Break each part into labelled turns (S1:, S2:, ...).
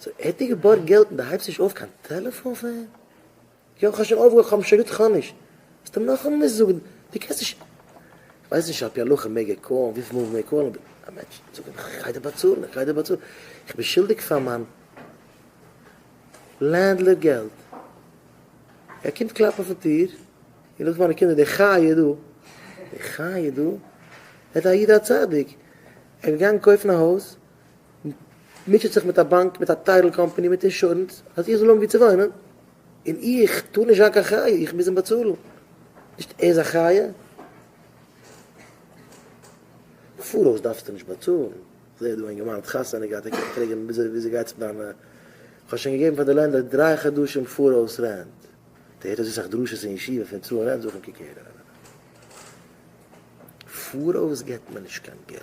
S1: סאו ער האט דיר געבארגט געלט און די הייבסט נישט אויף קיין טעלעפאן פאר אים? יא כ'האב שוין אויפגעהויבן כ'האב שוין געזאגט כאנישט זאלסט אים נאכאמאל נישט זאגן דו קענסט נישט כ'ווייס נישט על פי הלכה מעג ער קאלן וויפיל מאל מעג ער קאלן אבער א מענטש זאג אים כ'גיי דיר באצאלן כ'גיי דיר באצאלן כ'בין שולדיג פאר מיין לענדלערד געלט ער קומט קלאפן אויפן טיר און לאז מיינע קינדער די חיה דא די חיה דא ער איז א איד א צדיק ער איז געגאנגען קויפן א הויז מוטשעט זיך מיט א באנק, מיט א טייטל קאמפאני, מיט אינשורענס, אז איך זאל האבן וואו צו וואוינען, און איך טאר נישט זיין קיין חיה, איך מוז אים באצאלן. נישט ער איז א חיה? פאראויס דארפסטו נישט באצאלן. כ'זע דא א אינגערמאן האט חתונה געהאט, ער קומט פרעגן וויאזוי וויאזוי גייט זיך דיינע, כ'האב שוין געגעבן פאר די לענדלער דריי חדשים פאראויס רענט, דער הערט אזוי סאך דרשות אין ישיבה פון צאלן רענט, זאג אים קוק הער, פאראויס געבט מען נישט קיין געלט.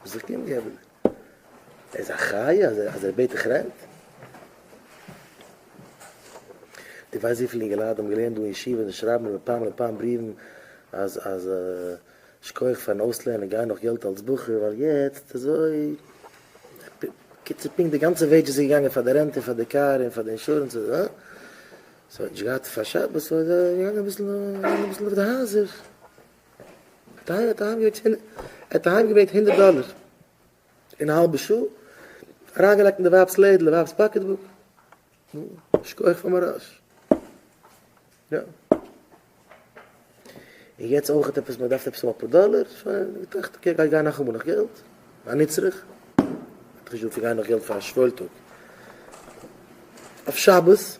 S1: וואס זאגט אים די אמונה? ער איז א חיה אז ער בעט דיך רענט? די ווייסט וויפיל אינגעלייט האבן געלערנט דא אין ישיבה און שרייבן מיר מפעם לפעם בריוון אז אז שכוח פארן אויסלערנען גיי נאך געלט אלץ בחור ווייל יעצט אזוי קיצור פונקט די גאנצע וועידזשעס איז געגאנגען פאר די רענט און פאר די קאר און פאר די אינשורענס און אה ס'האט נישט געהאט פאר שבת סאו איז ער געגאנגען אביסל אביסל אויף די הייזער. טייערע, ער האט אהיימגעברענגט הונדערט דאלער אין א האלבע שעה, אריינגעלייגט אין די ווייב'ס לעדל, די ווייב'ס פאקעטבוק, נו, שכוח פאר מראש. יא. און יעצט אויך עפעס, מען דארף עפעס האבן אפאר דאלער, שוין, געטראכט, אקעי, גיי גיי נאכאמאל נאך געלט, א נצרך, האט געזאגט, איך גיי נאך געלט פאר א שוואוילטאג אויף שבת.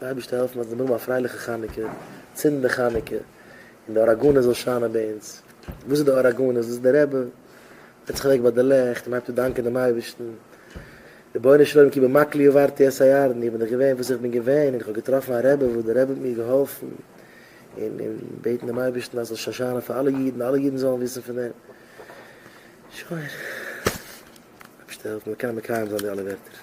S1: די אייבערשטער העלפן אז מיר האבן א פרייליכע חנוכה, צינדן די חנוכה, און די אור הגנוז זאל שיינען ביי אונז. וואס איז די אור הגנוז? דאס איז די רבי זעצט זיך אוועק ביי די לעכט און הייבט אן דאנקען דעם אייבערשטן, רבונו של עולם כי במקלי עברתי את הירדן, איך בין דאך געווען וואס איך בין געווען, און איך האב געטראפן א רבי וואס די רבי האט מיר געהאלפן, און און בעטן דעם אייבערשטן אז עס זאל שוין שיינען פאר אלע אידן, אלע אידן זאלן וויסן פון דעם. שוין. אייבערשטער העלף מיר מיר קענען מקיים זיין די אלע ווערטער.